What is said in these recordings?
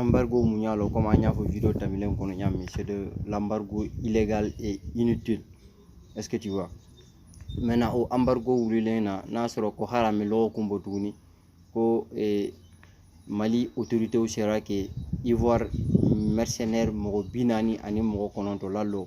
embargo mun y'a lɔn komi an y'a fɔ video tɛmɛnen kɔnɔ ɲa min c'est de l'embargo illégal et inutile est ce que tu vois maintenant o embargo wulilen na n'a sɔrɔ ko hali a ma lɔgɔkun bɔ tuguni ko eh, mali autorités sera ka ivoire mercenaire mɔgɔ bi naani ani mɔgɔ kɔnɔntɔn lalɔ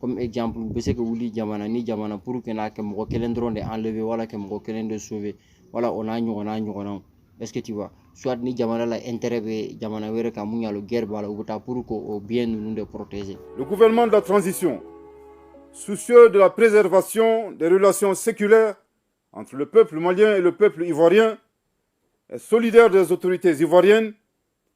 comme exemple u bɛ se ka wuli jamana ni jamana pour ka na ka mɔgɔ kelen dɔrɔn de enlever wala ka mɔgɔ kelen de sauver wala o n'a ɲɔgɔnna ɲɔgɔnnaw est ce que tu vois soit ni jamana la intérêt bɛ jamana wɛrɛ kan mun y'a lɔn guerre b'a la u bɛ taa pour k'o bien ninnu de protéger. le gouvernement de la transition soucieux de la préservation des relations séculaires entre le peuple malien et le peuple ivoirien est solidaire des autorités ivoiriennes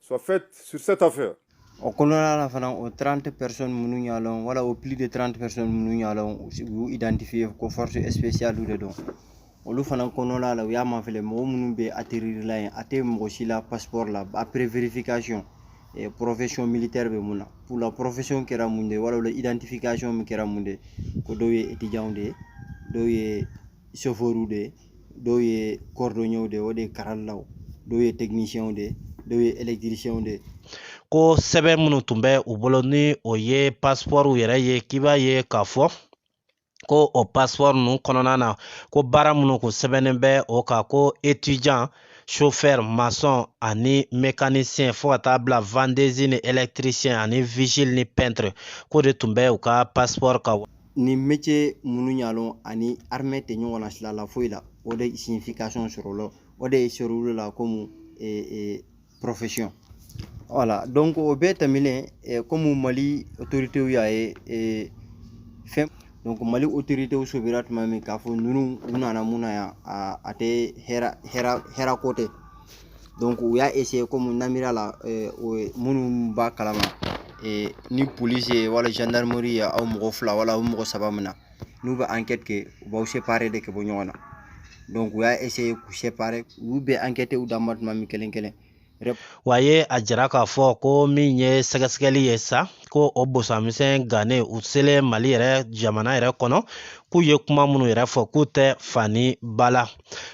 soit faite sur cette affaire. o kɔnɔna la fana o 30 personnes minnu y'a lɔn wala o plus de 30 personnes minnu y'a lɔn u y'u identifier ko force spécialew de don olu fana kɔnɔna la u y'a mafilɛ mɔgɔ minnu bɛ atterrir la yen a tɛ mɔgɔ si la passeport la après vérification eh, profession militaire bɛ mun na pour la profession kɛra mun de ye wala o la identification min kɛra mun de ye ko dɔw ye étudiants de ye dɔw ye chauffeurs de ye dɔw ye cordonniers de o de ye karalilaw dɔw ye techniciens de dɔw ye électriciens de ko sɛbɛn minnu tun bɛ u bolo ni o ye passeport yɛrɛ ye k'i b'a ye k'a fɔ ko o passeport ninnu kɔnɔna na ko baara minnu kun sɛbɛnnen bɛ o kan ko étudiant chauffeur maçon ani mécanicien fo ka taa bila vendeuse ni électricien ani vigile ni peintre k'o de tun bɛ u ka passeport kan ni métier minnu y'a lɔn ani armée tɛ ɲɔgɔn na sila la foyi la o de signification sɔrɔla o de sɔrɔla komi profession voilà donc o bɛɛ tɛmɛnen komi mali autoritew y'a ye fɛn donc mali autoritew sobira tuma min k'a fɔ ninnu u nana mun na yan a tɛ hɛrɛ ko tɛ donc u y'a essayer komi namira la eh, minnu b'a kala ma eh, ni polisi ye wala gendarmerie ye aw mɔgɔ fila wala aw mɔgɔ saba mina n'u bɛ enquête kɛ u b'aw séparer de ka bɔ ɲɔgɔn na donc u y'a essayer k'u séparer u bɛ enquêter u dan ma tuma min kelen kelen wa ye a jira k'a fɔ ko min ye sɛgɛsɛgɛli ye sa ko o bosamisɛn gannen u selen mali yɛrɛ jamana yɛrɛ kɔnɔ k'u ye kuma minnu yɛrɛ fɔ k'u tɛ fa ni ba la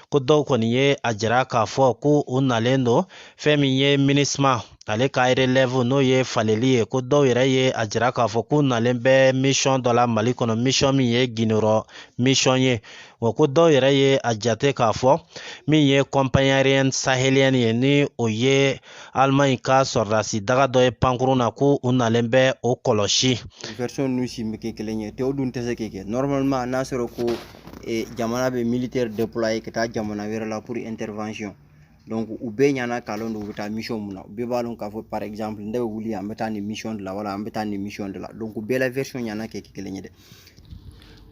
ko dɔw kɔni ye a jira k'a fɔ ko u nalen don fɛn min ye minusma ale ka relève n'o ye faleli ye ko dɔw yɛrɛ ye a jira k'a fɔ k'u nalen bɛ mission dɔ la mali kɔnɔ mission min ye gundorɔ mission ye wa ko dɔw yɛrɛ ye a jate k'a fɔ min ye compagnie aérienne sahélienne ye ni o ye alemaɲi ka sɔrɔdasi daga dɔ ye pankurun na ko u nalen bɛ o kɔlɔsi version ninnu si ma kɛ kelen ye o dun tɛ se ka kɛ normalement n'a sɔrɔ ko e jamana bɛ militaire déployer ka taa jamana wɛrɛ la pour intervention donc u bɛɛ ɲana k'a lɔn don u bɛ taa mission mun na u bɛɛ b'a lɔn k'a fɔ par exemple ne bɛ wuli an bɛ taa nin mission de la wala an bɛ taa nin mission de la donc u bɛɛ la version ɲana ka kɛ kelen ye dɛ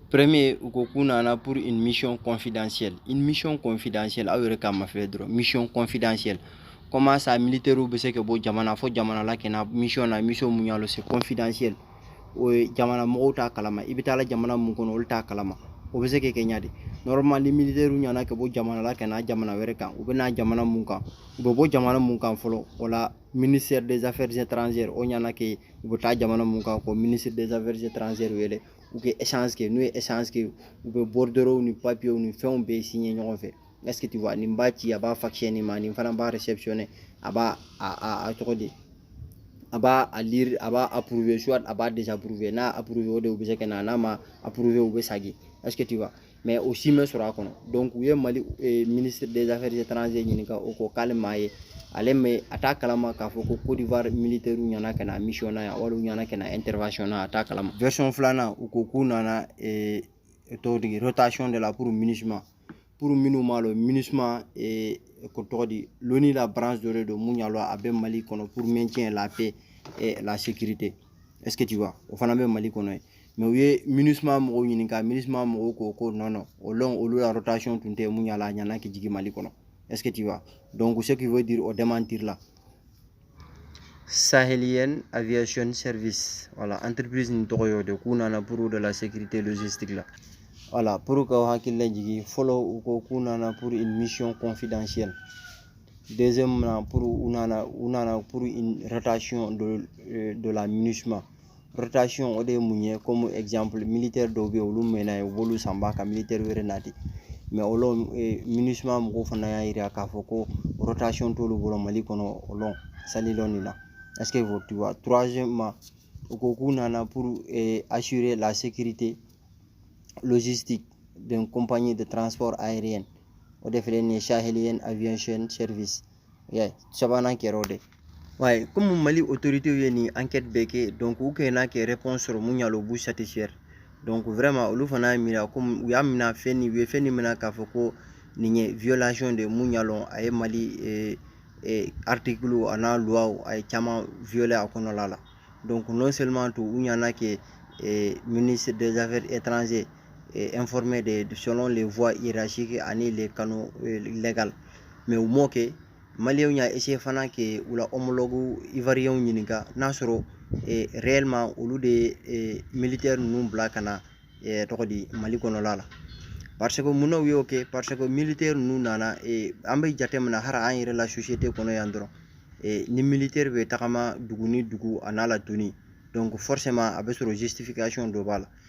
premier u ko k'u nana pour une mission confidentielle une mission confidentielle aw yɛrɛ k'a mafilɛ dɔrɔn mission confidentielle comment ça militaire bɛ se ka bɔ jamana fo jamana la ka na mission na mission mun y'a lɔn c'est confidentielle o ye jamana mɔgɔw t'a kalama i bɛ taa la jamana mun kɔnɔ olu t'a kalama o bɛ se ka kɛ ɲa di normalement militɛriw ɲana ka bɔ jamana la ka na jamana wɛrɛ kan u bɛ na jamana mun kan u bɛ bɔ jamana mun kan fɔlɔ o la ministère des affaires étrangères o ɲana ka u bɛ taa jamana mun kan k'o ministre des affaires étrangères wele u ka échange kɛ n'u ye échange kɛ u bɛ bordereau ni papiyew ni fɛnw bɛɛ signer ɲɔgɔn fɛ est-ce que tu vois nin b'a ci a b'a faxer nin ma nin fana b'a réceptionner a b'a a a tɔgɔ di a b'a a lire a b'a approuver soit a b'a désapprouver n'a approuvé o de u bɛ se ka na n'a ma approuvé u bɛ sagi est-ce que tu vois mais o si ma sɔrɔ a kɔnɔ donc u ye mali eh, ministre des affaires étrangères ɲininka o ko k'ale m'a ye ale mɛ a t'a kalama k'a fɔ ko côte d'ivoire militairew ɲana ka na mission na yan wali u ɲana ka na intervention na a t'a kalama version filanan u ko k'u nana eh, tɔgɔ di rotation de la pour minusma pour minnu m'a lɔn minusima eh, ko tɔgɔ di l'ONU la branche dɔ de don mun y'a lɔn a bɛ mali kɔnɔ pour maintien la paix et eh, la sécurité est ce que tu vois o fana bɛ mali kɔnɔ ye mais u ye minusima mɔgɔw ɲininka minusima mɔgɔw ko ko non non o lon olu la rotation tun tɛ mun y'a lɔn a ɲana ka jigi mali kɔnɔ est ce que tu vois donc ce qui veut dire o démentir la Sahelienne Aviation Service voilà entreprise nin tɔgɔ y'o de k'u nana pour de la sécurité logistique la voilà pour k'aw hakili lajigin fɔlɔ u ko k'u nana pour une mission confidentielle deuxièmement pour u nana u nana pour une rotation de, euh, de la minusma rotation o de ye mun ye comme exemple militaire dɔw bɛ yen olu mɛnna yen u b'olu sanba ka militaire wɛrɛ nati mais o lon minusma mɔgɔw fana y'a jira k'a fɔ ko rotation t'olu bolo mali kɔnɔ o lon sali lon nin na est ce que tu vois troisièmement u ko k'u nana pour eh, assurer la sécurité logistique d'une compagnie de transport aérien o de filɛ nin ye sahelienne aviation service y'a ye sabanan kɛra o de ye wa komi mali otoritew ye nin ankɛti bɛɛ kɛ dɔnku u kaɲa ka rɛpɔnsi sɔrɔ mun y'a lɔn b'u satisifɛri dɔnku vraiment olu fana y'a miiri komi u y'a mina fɛn nin u ye fɛn nin mina k'a fɔ ko nin ye violation de ye mun y'a lɔn a ye mali eh, eh, articlew an'a luwaw a ye caman violer a kɔnɔla la donc non seulement tun u ɲana ka eh, ministre des affaires étrangères et informé de, selon les voies hiérarchiques ani les canaux euh, légaux mais u m'o kɛ maliyɛnw y'a essayer fana ka u la homologue ivoiriyɛnw ɲininka n'a sɔrɔ eh, réellement olu de ye eh, militaire ninnu bila ka na eh, tɔgɔ di mali kɔnɔla la parce que mun na u y'o kɛ parce que militaire ninnu nana eh, an bɛ jate minɛ hali an yɛrɛ la société kɔnɔ yan dɔrɔn eh, ni militaire bɛ tagama dugu ni dugu a n'a la tenue donc forcément a bɛ sɔrɔ justification dɔ b'a la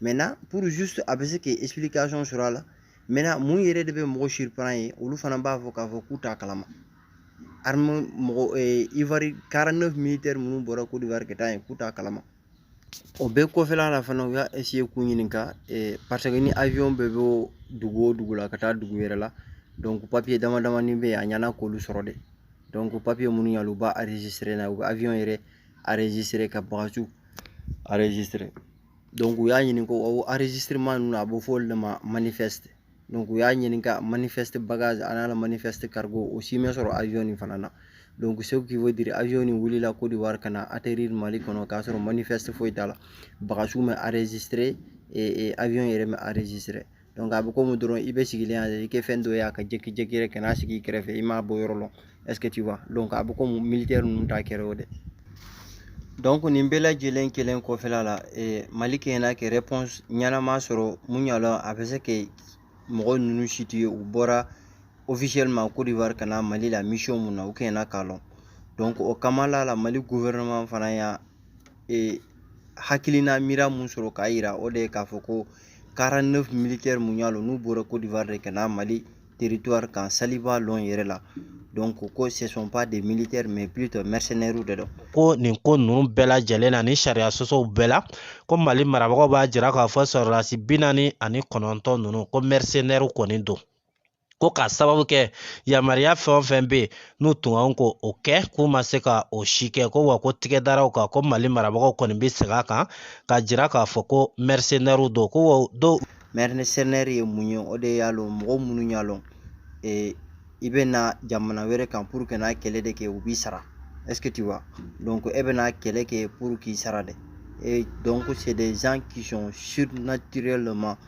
maintenant pour juste a bɛ se ka explication sɔrɔ a la maintenant mun yɛrɛ de bɛ mɔgɔ surprendre olu fana b'a fɔ k'a fɔ k'u t'a kalama armée mɔgɔ eh, ivoire 49 militaire minnu bɔra Côte d'Ivoire ka taa yen k'u t'a kalama o bɛɛ kɔfɛla la fana u y'a essayer k'u ɲininka eh, parce que ni avion bɛ bɔ dugu o dugu la ka taa dugu wɛrɛ la donc papier dama damani bɛ yen a ɲɛna k'olu sɔrɔ de donc papier minnu y'a lɔn u b'a enregistrer n'a ye u bɛ avion yɛrɛ enregistrer ka bagasiw enregistrer donc u y'a ɲini ko o enregistrement ninnu a bɛ fɔ olu de ma manifeste donc u y'a ɲini ka manifeste bagage a n'a la manifeste cargo o si ma sɔrɔ avion nin fana na donc ce qui veut dire avion nin wulila Côte d'Ivoire ka na atterrir Mali kɔnɔ k'a sɔrɔ manifeste foyi t'a la bagasiw ma enregistrer eh, avion yɛrɛ ma enregistrer a bɛ komi dɔrɔn i bɛ sigilen yan i ka fɛn dɔ ye a ka jigi direct ka na sigi i kɛrɛfɛ i m'a bɔ yɔrɔ lɔn est ce que tu vois donc a bɛ komi militɛri ninnu ta kɛra o de donc nin bɛɛ lajɛlen kelen kɔfɛla la mali kɛɲɛna ka réponse ɲɛnama sɔrɔ mun y'a lɔn a bɛ se ka mɔgɔ ninnu situer u bɔra officiellement Côte d'Ivoire ka na mali la misiyɔn mun na u kɛɲɛna k'a lɔn donc o kama la mali gouvernement fana y'a hakilina miiriya mun sɔrɔ k'a yira o de ye k'a fɔ ko 49 militaire mun y'a lɔn n'u bɔra kodiwari de ka na mali teritwari kan saliba lɔn yɛrɛ la donc ko ce sont pas des militaires mais plutôt mercenaires de don ko nin ko ninnu bɛɛ lajɛlen na ni sariya sɔsɔw bɛɛ la ko mali marabagaw b'a jira k'a fɔ sɔrɔlasi bi naani ani kɔnɔntɔn ninnu ko mercenaires kɔni don ko k'a sababu kɛ yamaruya fɛn o fɛn bɛ yen n'u tun kan ko o kɛ k'u ma se ka o si kɛ ko wa ko tigɛdaraw kan ko mali marabagaw kɔni bɛ segin a kan ka jira k'a fɔ ko mɛrisenɛriw don ko wa donc mɛrisenɛri ye mun ye o de y'a lɔn mɔgɔ minnu y'a lɔn ee i bɛ na jamana wɛrɛ kan pour que n'a kɛlɛ de kɛ u b'i sara est ce que tu vois donc e bɛ na kɛlɛ kɛ pour k'i sara dɛ et donc c'est des gens qui sont mercenaires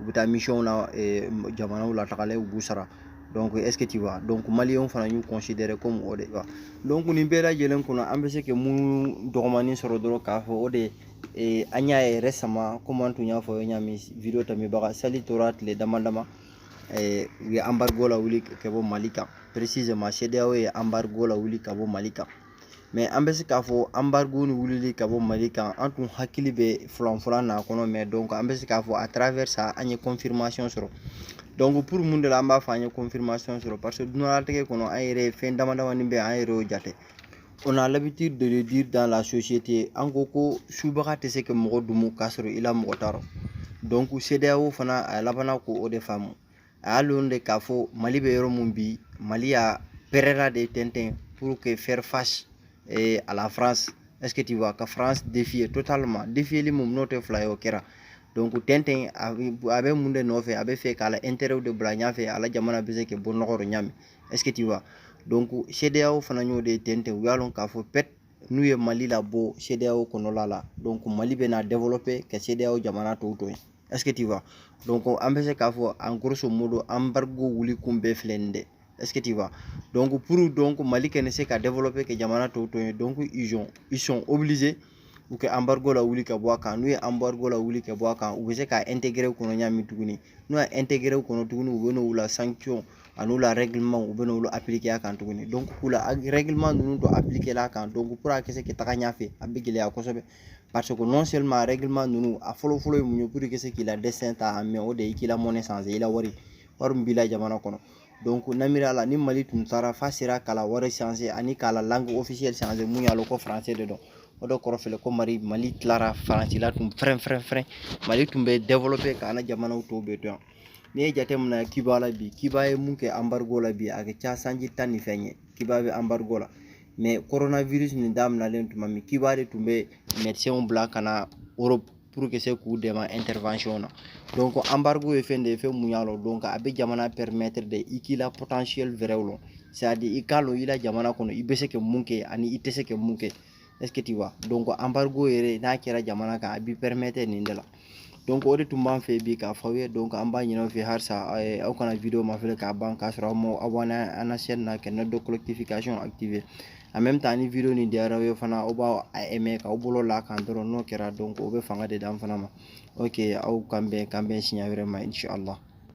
u bɛ taa misiyɔnw na eh, jamanaw la tagalen u b'u sara donc est ce que tu vois donc maliyɛnw fana y'u considérer comme o de wa donc nin bɛɛ lajɛlen kɔnɔ an bɛ se ka mun dɔgɔmanin sɔrɔ dɔrɔn k'a fɔ o de eh, an y'a ye récemment comme an tun y'a fɔ ɲa min video tɛmɛbaga sali tora tile dama dama eh, u ye embargo lawuli ka bɔ mali kan précisément CEDEAO ye embargo lawuli ka bɔ mali kan mais an bɛ se k'a fɔ embargo ni wulili ka bɔ mali kan an tun hakili bɛ filanfila n'a kɔnɔ mais donc an bɛ se k'a fɔ à travers ça an ye confirmation sɔrɔ donc pour mun de la an b'a fɔ an ye confirmation sɔrɔ parce que dunalatigɛ kɔnɔ an yɛrɛ fɛn dama damani bɛ an yɛrɛ y'o jate on a l'habitude de le dire dans la société an ko ko subaga tɛ se ka mɔgɔ dumu k'a sɔrɔ i la mɔgɔ t'a rɔ donc CEDEAO fana a labanna ko o de faamu a y'a lɔn de k'a fɔ mali bɛ yɔrɔ min bi mali y'a pɛrɛra de tɛntɛn pour que faire face eh, à la france est ce que tu vois ka france défier totalement défieli min n'o tɛ fila ye o kɛra donc tɛntɛn a bɛ mun de nɔfɛ a bɛ fɛ k'a la intérêt de bila ɲɛfɛ a la jamana bɛ se ka bɔ nɔgɔ rɔ ɲami est ce que tu vois donc CEDEAO fana y'o de tɛntɛn u y'a lɔn k'a fɔ peut-être n'u ye mali labɔ CEDEAO kɔnɔla la donc mali bɛna développer ka CEDEAO jamana tɔw to yen est-ce que tu vois donc an bɛ se k'a fɔ en grosso modo embargo wuli kun bɛɛ filɛ nin dɛ est-ce que tu vois donc pour donc mali kana se ka développer ka jamana tɔw to yen donc ils ont ils sont obligés u ka embargo lawuli ka bɔ a kan n'u ye embargo lawuli ka bɔ a kan u bɛ se k'a intégrer u kɔnɔ ɲami tuguni n'u y'a intégrer u kɔnɔ tuguni u bɛ n'u la sanction an'u la règlement u bɛ n'olu appliquer a kan tuguni donc k'u la règlement ninnu dɔ appliquer a kan donc pour a ka se ka taga ɲɛfɛ a bɛ gɛlɛya kosɛbɛ parce que non seulement règlement ninnu a fɔlɔ fɔlɔ ye mun ye pour que se k'i la destin ta en main o de ye k'i la monnaie changer i la wari wari min b'i la jamana kɔnɔ donc namira la ni mali tun taara f'a sera k'a la wari changer ani k'a la langue officielle changer mun y'a lɔ ko français de don o de kɔrɔ fɛlɛ ko mali mali tilara faransi la tun fɛrɛn fɛrɛn fɛrɛn mali tun bɛ développer k'an ka jamanaw tɔw bɛɛ to yen n'i ye jate minɛ cuba la bi cuba ye mun kɛ embargo la bi a ka ca sanji tan ni fɛn ye cuba bɛ embargo la mais coronavirus nin daminɛlen tuma min cuba de tun bɛ médecinw bila ka na europe pour que se k'u dɛmɛ intervention na donc embargo ye fɛn de ye fɛn mun y'a lɔ donc a bɛ jamana permettre de i k'i la potentiel vraiw lɔn c'est à dire i k'a lɔn i la jamana kɔnɔ i bɛ se ka mun kɛ ani i tɛ se ka mun kɛ est ce que tu vois donc embargo yɛrɛ n'a kɛra jamana kan a b'i permettre nin de la donc o de tun b'an fɛ bi k'a fɔ aw ye donc an b'a ɲin'aw fɛ halisa aw kana video mafilɛ k'a ban k'a sɔrɔ aw m'aw abonner an na chaîne na ka note collectification activer en même temps ni video nin diyara aw ye fana aw b'a aimer k'aw bolo la kan dɔrɔn n'o kɛra donc o bɛ fanga de d'an fana ma ok aw k'an bɛn k'an bɛn siɲɛ wɛrɛ ma inchallah